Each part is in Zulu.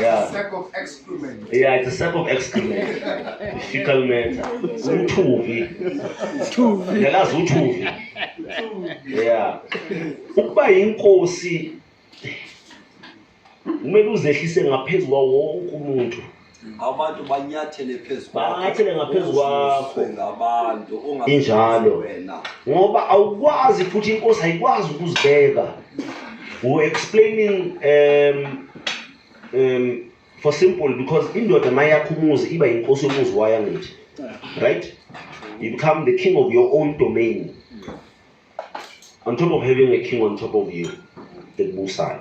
Yeah. Sack of excrement. Yeah, it's a sack of excrement. Fecal matter. Uthuvi. Uthuvi. Ngelazi uthuvi. Yeah. Ukuba inkosi kumele uzehlise ngaphezu kwawo wonke umuntu. abantu banyathele phezu banyathele ngaphezu kwakho ngabantu injalo wena ngoba awukwazi futhi inkosi ayikwazi ukuzibeka we explaining um um for simple because indoda mayakho umuzi iba inkosi yomuzi wayo ngithi right you become the king of your own domain on top of having a king on top of you the Musai.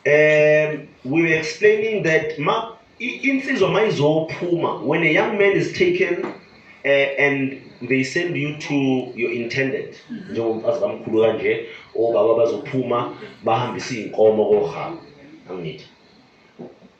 um we were explaining that ma insizwa ma izophuma when a young man is taken uh, and they send you to your intended mm-hmm. njengomfazi kamkhulu kanje obaba bazophuma bahambise iy'nkomo kohaba angithi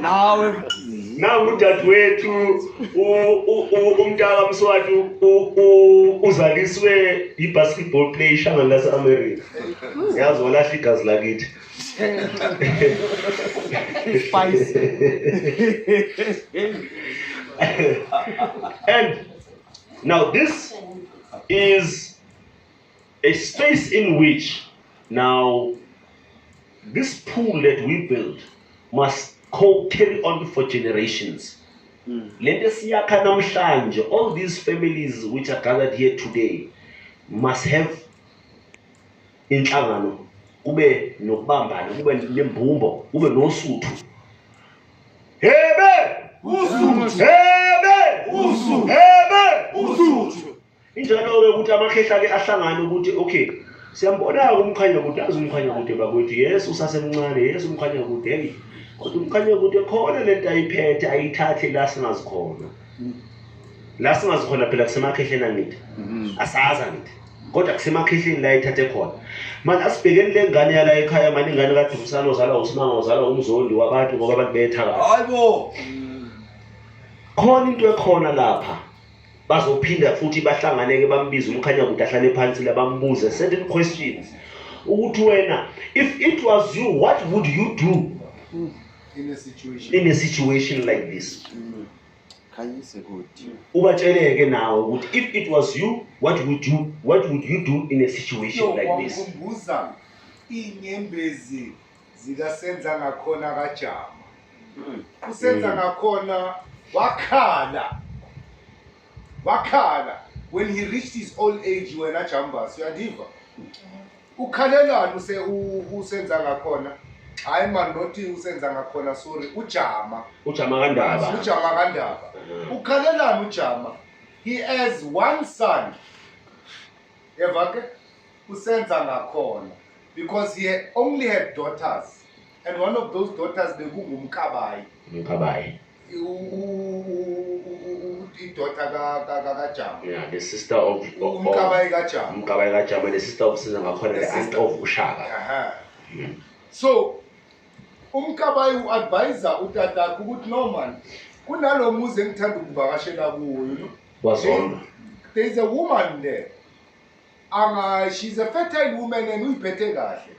nawe nangu udadewethu umntaka mswati uzaliswe yi-basketball play ishangani lase-america yazi walahla igazi lakithi and now this is A space in which now this pool that we build must co carry on for generations. Mm. Lento esiyakha namhlanje all these families which are gathered here today must have inhlangano kube nokubambana kube nembumbo kube nosuthu hebe usuthu hebe usuthu hebe usuthu Injalo-ke ukuthi amakhehla ke ahlangane ukuthi okay siyambona-ke umkhanya kude azi umkhanya kude bakwethu yes usasemncane yes umkhanya kude heyi kodwa umkhanya kude khona le nto ayiphethe ayithathe la singazi khona la singazi khona phela kusemakhehleni angithi mhm. asazi angithi kodwa kusemakhehleni la ithathe khona manje asibhekeni le ngane yala ekhaya mani ingane kadumsana ozalwa usimanga ozalwa umzondi wabantu ngoba abantu bethakala hayibo khona into ekhona lapha Bazophinda futhi bahlanganeke bambize umkhanyakude ahlale phansi la bambuze certain questions ukuthi wena if it was you what would you do in a situation, in a situation like this mm. khanyise kuthi ubatsheleke nawe ukuthi if it was you what would you what would you do in a situation like this ngikubuza inyembezi zikasenza ngakhona kajama hmm. usenza hmm. ngakhona wakhala wakhala when he reached his old age wena jambas uyandiva ukhalelani use usenza ngakhona hayi man nothi usenza ngakhona sorry ujama ujama kandaba ujama kandaba ukhalelani ujama he has one son yeva ke usenza ngakhona because he only had daughters and one of those daughters bekungumkabayi umkabayi idota kajama yeah the sister of umkabayi kajama umkabayi kajama the sister of siza ngakhona the aunt of ushaka hmm. so umkabayi u-advisa utatakhe ukuthi no man kunalo muzi engithanda ukuvakashela kuwo wazondwa there is a woman there anga she's a fertile woman and uyiphethe kahle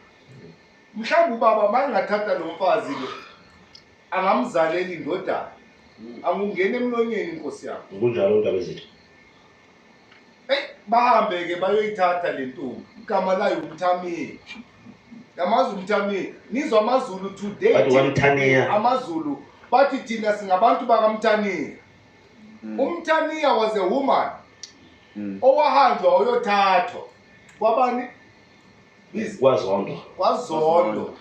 mhlawumbe ubaba mangathatha lo mfazi lo angamzaleli indodana hmm. angungena emlonyeni inkosi yakho kunjalo ndaba ezithi hey bahambe ke bayoyithatha le ntombi igama layo umthamile yamazi umthamile nizwa amazulu today amazulu bathi thina singabantu bakamthanile Mm. umtaniya was a woman mm. owahanjwa oyothathwa kwabani kwazondo kwazondo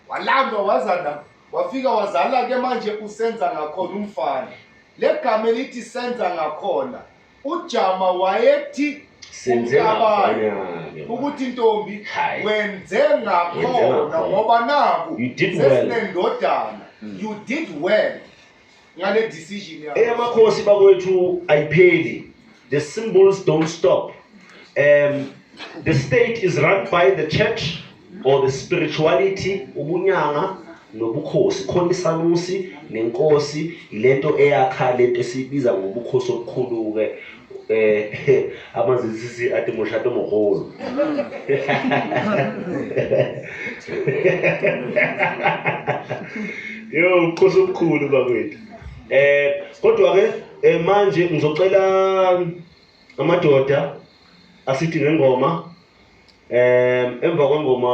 walandwa wazana wafika wazala ke manje usenza ngakhona umfana le gama elithi senza ngakhona ujama wayethi ukuthi ntombi wenze ngakhona ngoba naku sesinendodana mm. you did well ngale decision yakho eyamakhosi bakwethu ayipheli the symbols don't stop um the state is run by the church or the spirituality ubunyanga nobukhosi khona isanusi nenkosi ilento eyakha lento esibiza ngobukhosi obukhulu-ke eh a mazisisi a te mošate mogolo yo nkosi omkhulu bakwethu eh kodwa ke eh, manje ngizocela amadoda asithi ngengoma um emva kwengoma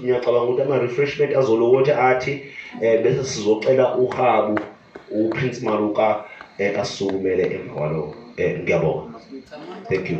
ngiyacabanga ukuthi ama-refreshment azolokothi athi um bese sizocela uhabu uprince maruka um asisukumele emva kwaloko um ngiyabonga thank you